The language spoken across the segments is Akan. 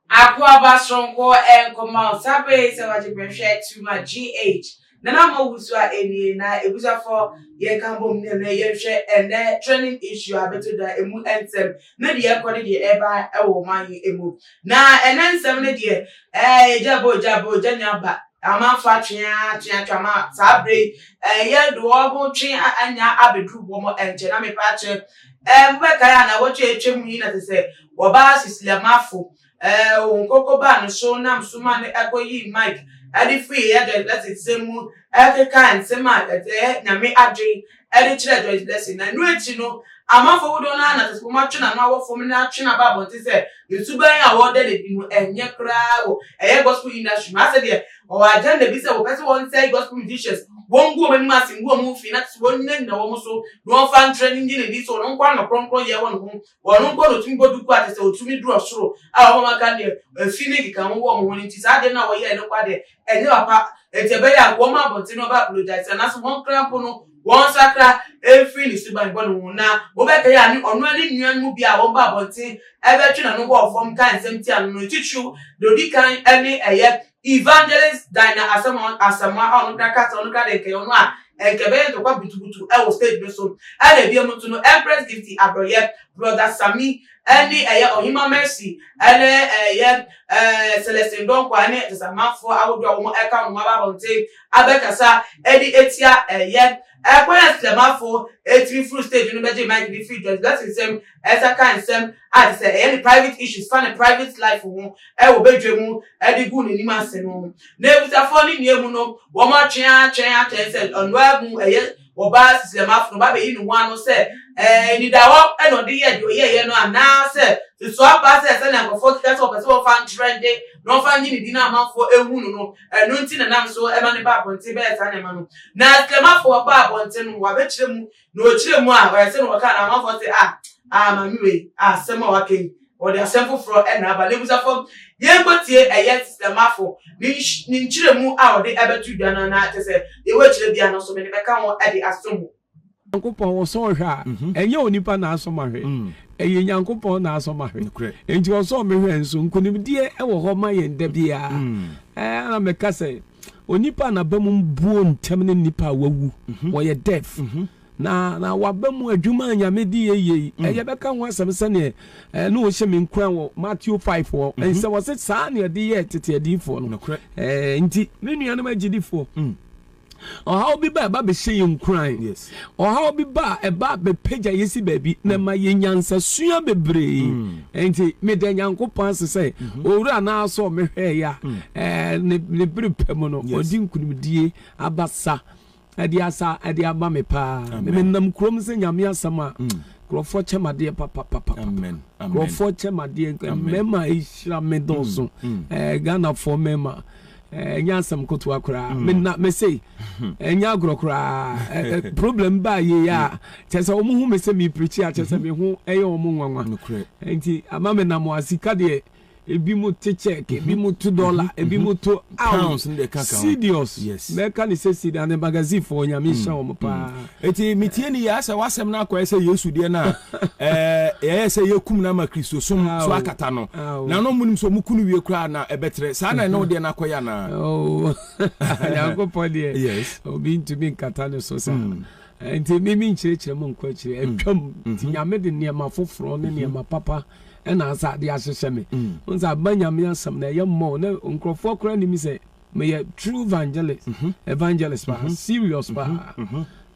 Akua ba soronko ɛnkoma o saa bere sɛ wagye bɛhwɛ too much GH Nana mo wusu a enie na ebusa fɔ yɛn ka bom ne mɛ yɛn hwɛ ɛnɛ trending issue a bɛto dwa emu nsɛm ne deɛ ɛkɔ ne deɛ ɛba ɛwɔ ɔman yi emu na ɛnɛ nsɛm ne deɛ ɛɛ egya bɔ egya bɔ egya nya ba ama fa twe a twe a twe ama saa bere yi ɛɛ yɛ de wɔn ho twe a anya abɛduru wɔn nkyɛn na mepɛ akyɛ ɛɛ mo bɛkae a na wɔtwe atwa mu yi na te sɛ wɔba sisilamafo Ɛɛo, Nkoko baa ne so nam so maa no koyii mic de firii Joyce Blessing nsam mu kekaa nsɛm a ɛyɛ Nyame adwene de kyerɛɛ Joyce Blessing. Na ɛno akyi no, amanfoɔ dodoɔ no ara na Asasefoɔ atwe no ano awɔ fam na atwe no aba abɔnten sɛ ne suban a ɔreda no adi no ɛnyɛ koraa wɔ ɛyɛ gospel industry mu. Asɛ deɛ ɔwɔ agenda bi sɛ wɔpɛ sɛ wɔnsɛe gospel musicians, wɔngu wɔn anim ase ngu wɔn ho fi na kyerɛ sɛ wɔnnyinagyina wɔn so na wɔmfa nkyerɛ no nnye no nni sɛ ɔno nko ara na kronkronyɛ wɔ ne ho Wɔn mpo na otumi bɔ duku a kyerɛ sɛ otumi du ɔsoro a wɔn aka no deɛ efi ne nkeka ho wɔ wɔn ho no nti saa adeɛ no a wɔyɛɛ no kwa deɛ ɛnyɛ papa enti ɛbɛyɛ a wɔn abɔnten no bɛapologyaese anaasɛ wɔn kra mpo no wɔnsakra mfiri ne suban bɔne ho na wobɛkae a ne ɔno ne nnua no mu biara a wɔn ba abɔnten bɛtwe n'ano bɔɔ fam kaa nsɛm tia no no titiriw deɛ odi kan ne ɛyɛ Evangelist Dinah Asamoah Asamoah a ɔno koraa ka sɛ ɔno koraa deɛ nkɛyɛ ɔno a ɛnkɛ bɛyɛ ntɔkwa butubutu ɛwɔ stage no so ɛna ebiam nso no Empress Gifty Abrɔyɛ, Brother Sammy ɛne ɛyɛ Ɔhemaa Mercy ɛne ɛyɛ ɛɛ Celestine Donkor ɛne Asamanfoɔ ahodoɔ a wɔn ɛka wɔn ho aba abɔnten abɛkasa ɛde atia ɛyɛ Ɛkwan a Silamafo tumi foro stage no bɛgyee Mike ne fii George Blessing nsam ɛsa kaa nsɛm a te sɛ ɛyɛ ne private issues fa ne private life ho wɔ badwa mu de guu n'anim ase no. N'abusuafoɔ ne nea mu no wɔn atwɛn ara atwɛn atwɛn sɛ ɔnoaa mu ɛyɛ ɔbaa Silamafo no bɛabɛyi ne ho ano sɛ anidawɔ na ɔde yɛɛ deɛ ɔyɛeɛ no anaa sɛ nso aba sɛ sɛnea nkurɔfoɔ keka sɛ wɔpɛ sɛ wɔfa ntrɛnde na wɔfa nye ne din na amanfoɔ nhu no no Ɛno nti na nam so ma no ba abɔnten bɛyɛ saa nneɛma no. Na Kremafo ɔbaa abɔnten no, wabɛkyerɛ mu, na ɔkyerɛɛ mu a, ɔyɛ sɛ na ɔkaa no, amanfoɔ se, Ah, ah, maame wei, ah, asɛm a waka yi, ɔde asɛm foforɔ na aba. Na ɛbusa fam, yɛnkɔtie ɛyɛ Kremafo ne ne nkyerɛmu a ɔde bɛto dwa no anaa, kyerɛ sɛ, deɛ wakyerɛ biara no nso, mede bɛka ho de asom wo. Nyankopɔn ɔsɔ ɔhwɛ a ɛnyɛ onipa n'asɔ ma hwɛ, ɛyɛ Nyankopɔn n'asɔ ma hwɛ. Enti ɔsɔ me hwɛ nso nkonimdie ɛwɔ hɔ ma yɛn da biara. Ɛɛ na meka sɛ onipa a n'aba mu buo ntɛm ne nipa a wawu, wɔyɛ deaf. Na na waba mu adwuma a Nyame de yɛ yie yi, ɛyɛ bɛka ho asɛm sɛdeɛ ɛɛ na ɔhyɛ me nkuran wɔ Matthew 5 hɔ, ɛnsɛ wɔse saa na yɛde yɛɛ tete adiyifoɔ no. Ɛɛ nti me nuanom agyidifoɔ, Ɔhaw bi ba a ɛba bɛhyɛ yɛn nkuran. Ɔhaw bi ba a ɛba bɛpagya yɛ si baabi na mm. ɛma yɛ nyansasua bebree. Mm. Nti meda Nyankopɔn ase sɛ mm-hmm. owura no asɔ mehwɛeɛ a mm. eh, ne bere pɛ mu no ɔde nkunimdie abasa ɛde asa ɛde ama me paa menam kurom sɛ nyame asɛm a nkurɔfoɔ kyɛm adeɛ papapapa nkurɔfoɔ kyɛm adeɛ mmarima ɛhyira me dɔɔso eh, ghanafoɔ mmarima Ɛnyɛ asɛm kotoa koraa. Hmm. Me na me se hmm. ɛnyɛ agorɔ koraa. Problem baa yie a hmm. kyɛ sɛ wɔn ho me sɛ me pirikyi a kyɛ sɛ me ho ɛyɛ wɔn nwanwa. Nti ama me nam wɔn sika deɛ ebi mu te check ebi mu to dollar ebi mu to pounds serious mɛka ne sɛ sida ne magazine fo onyame hyɛ wɔn paa. Enti metie ne yie ara sɛ w'asɛm no akɔyɛ sɛ Yesu deɛ no a, ɛɛ, ɛyɛ sɛ yɛakum no ama Kristosom so akata no. Na na wɔnnim sɛ wɔku no wie koraa a, na ɛbɛtrɛ. Saa na ɛne wo deɛ no akɔyɛ anaa? Oo, Nyankopɔn deɛ, Yes. obi ntumi nkata ne so saa. Mm. Enti me menkyerɛkyerɛ mo nkɔ akyire, Mm. atwam. Nti Mhm. Nyame de nneɛma foforɔ ne Mhm. nneɛma papa ɛna asa de ahyehyɛ me. Mm. Wohu sɛ, aba Nyame asɛm no ɛyɛ mmɔɔ na nkurɔfoɔ koraa nnim sɛ Meyɛ true vangelist evangelist paa serious paa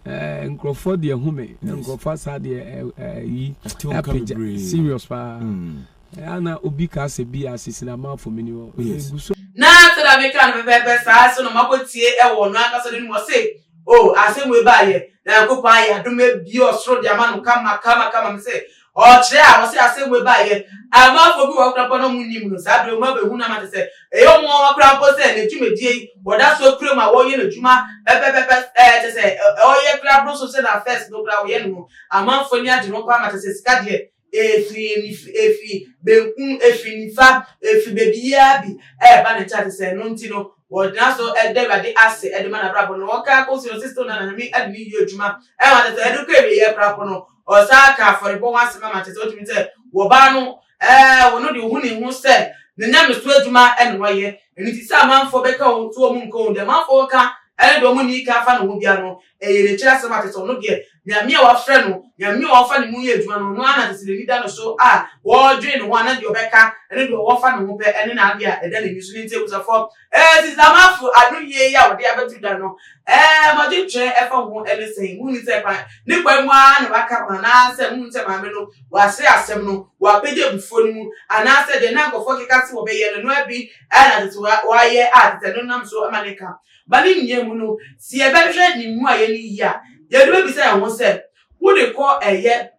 ɛɛ nkurɔfoɔ deɛ hu me nkurɔfoɔ asaa deɛ ɛyi apagya serious paa ɛɛ ana obi ka asɛ bi asisi na maa fomini hɔ egu so. Na sɛdeɛ meka no pɛpɛɛpɛ saa nso na makɔtie wɔ ɔno ankasa no anim ɔse oh asɛm wei baayɛ na Nyankopɔn ayɛ adom abue ɔsoro de ama no kama kama kama mese Ɔkyerɛ a ɔsɛ asɛm wei baa yɛ amanfoɔ bi wɔ hɔ koraa mpo na ɔmo nnim no saa berɛ mu abɛhu no ama te sɛ ɛyɛ ɔmo nwanwa koraa mpo sɛ ne dwumadie yi wɔda so kura mu a wɔyɛ n'adwuma pɛpɛpɛpɛ ɛɛ te sɛ ɔyɛ koraa boro so sɛ na fɛs no koraa wɔyɛ no no amanfoɔ ni agye no koraa ma te sɛ sika deɛ efi efi benkum efi nifa efi bebiara bi ɛɛba ne nkyɛn te sɛ ɛno nti no wɔgyina so ɛda awurade ase ɛde ma n'abrabɔ no wɔka akɔsi no sisi na na nyame ɛde ne yie adwuma ɛma te sɛ ɛde kɔ awieɛ koraa mpo no Ɔsan ka afɔrebɔ ho asɛm ma kyerɛ sɛ wotumi sɛ wɔ ɔbaa no ɛɛ ɔno de ohu ne ho sɛ ne nyamesu adwuma na ɔyɛ ɛno nti sɛ amanfoɔ bɛka wɔn so wɔn nka wɔn deɛ amanfoɔ bɛka ɛne deɛ wɔn nni ka afa ne ho bia no ɛyɛ n'akyiri asɛm a kyerɛ sɛ ɔno deɛ nyame a wafrɛ no nyame a ɔfa ne mu yɛ adwuma no ɔno ana kyerɛ sɛ n'ani da no so a wɔdwene ne ho ana deɛ ɔbɛka ɛne deɛ ɔwɔ fa ne ho pɛ ɛne n'adeɛ a ɛda n'ani so ne nti abusafo Ɛɛ Sisi Amanfo, adonyie yi a wɔde abɛto dwa no, ɛɛ m'adwentwerɛ ɛfa ho ne sɛn? Monhu sɛ kwa, ne kwae mu ara na wɔaka ho, anaasɛ monhu sɛ maame no, wɔasere asɛm no, wɔapagya abufuo no mu, anaasɛ deɛ na nkurɔfoɔ keka se wɔbɛyɛ no, ɛno ara bi ara na tete wɔayɛ a tete ɛno nam so ma ne ka ba ne nnua mu no? Sɛ yɛbɛhwɛ ne mmuaeɛ no yie a, yɛde bɛbisa yɛn ho sɛ, Wode kɔ ɛyɛ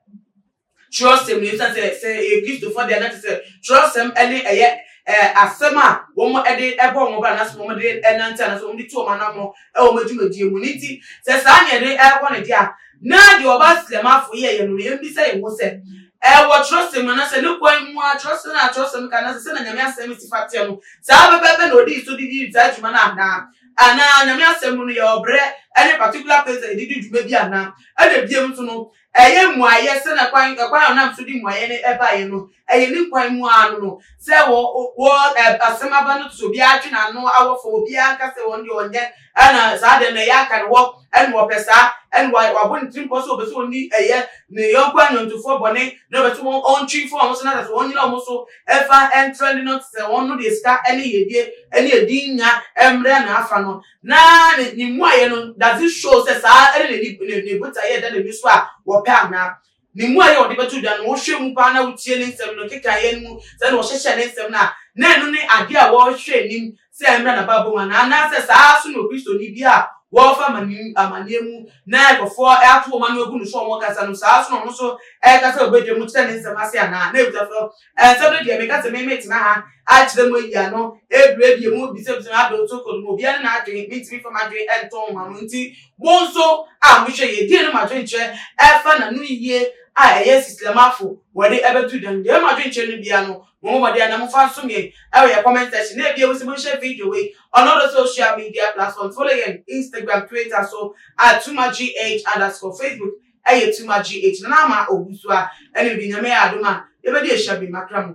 Kyerɛwsɛm no, esiane sɛ sɛ ɛyɛ Kristofo de a na ɛte sɛ kyerɛwsɛm ne ɛyɛ asɛm a wɔde bɔ wɔn bra anaasɛ wɔde nante anaasɛ wɔde tu wɔn anammɔn wɔ wɔn adwumadie mu no nti, sɛ saa na yɛde rebɔ no de a, na deɛ ɔbaa Silamafo yɛɛ yɛn no no, yɛmmisa yɛn ho sɛ, ɛwɔ kyerɛwsɛm mu anaasɛ ne kwan mu a kyerɛwsɛm a kyerɛwsɛm ka anaasɛ sɛnea Nyame asɛm si fa teɛ no, saa pɛpɛɛpɛ na ɔdii so de dii saa dwuma no anaa? Anaa Nyame asɛm mu no, yɛwɔ berɛ ne particular place a yɛde di dwuma bi anaa? Ɛnna bio nso no, Ɛyɛ mmuaeɛ sɛnea kwan ɛkwan a ɔnam so de mmuaeɛ no ɛbaeɛ no ɛyɛ ne nkwan mu ara no no sɛ wɔ wɔ ɛ asɛm aba no so obiara atwe n'ano awɔ fam obiara nka sɛ wɔn deɛ ɔnyɛ ɛna saa deɛ na ɛyɛ aka ne hɔ ɛna ɔpɛ saa ɛna wa wabɔ ne tirimpɔ sɛ ɔpɛ sɛ ɔni ɛyɛ ne yɔnko anyɔntofoɔ bɔne na ɔpɛ sɛ wɔn ɔntwe fɔ wɔn so na sɛ wɔn nyina wɔn so ɛfa ɛntrɛnde no sɛ wɔn no deɛ sika ɛne yɛdie ɛne ɛdin nya ɛmmerɛ na afa no na ne ne mmuaeɛ no does it show sɛ saa ɛne n'ani ne ne botaeɛ da n'ani so a wɔpɛ anaa ne mmuaeɛ a ɔde bɛto dwa no wohwɛ mu paa na wotie ne nsɛm no nkekaeɛ no mu sɛ na wɔhyehyɛ ne nsɛm no a na ɛno ne adeɛ a wɔhwɛ anim sɛ ɛmmra n'abaabɔ mu anaa anaasɛ saa so na okristoni bi a wɔfa amanneɛ mu na nkurɔfoɔ ato wɔn ano agu no so wɔn kasa no saa so na ɔno nso ɛkasa wɔ badwa mu kyerɛ ne nsɛm ase anaa na ɛbisa so Ɛnsɛm no deɛ meka sɛ me metena ha akyerɛ mo ayi ano ɛbirɛ deɛ mo bisabisa adoo so kɔ no mu obiara ne n'adwene mentumi fa m'adwene nto ho ma mo nti mo nso a mohwɛ yie deɛ ne mo adwenkyerɛ ɛfa na no yie a ɛyɛ sislamafo wɔde ɛbɛto dwa no deɛ mo adwenkyerɛ no bia no mo mo mɔden na mofa nsom yɛn ɛwɔ yɛ comment section na ɛbia wo sɛ monhyɛ video wei ɔno ɔdɔ social media platforms follow yɛn Instagram Twitter so at tumagh underscore Facebook ɛyɛ too much gye akyina na ama owu so a ɛne de nyame yɛ adom a yɛbɛde ahyia bi makra mu.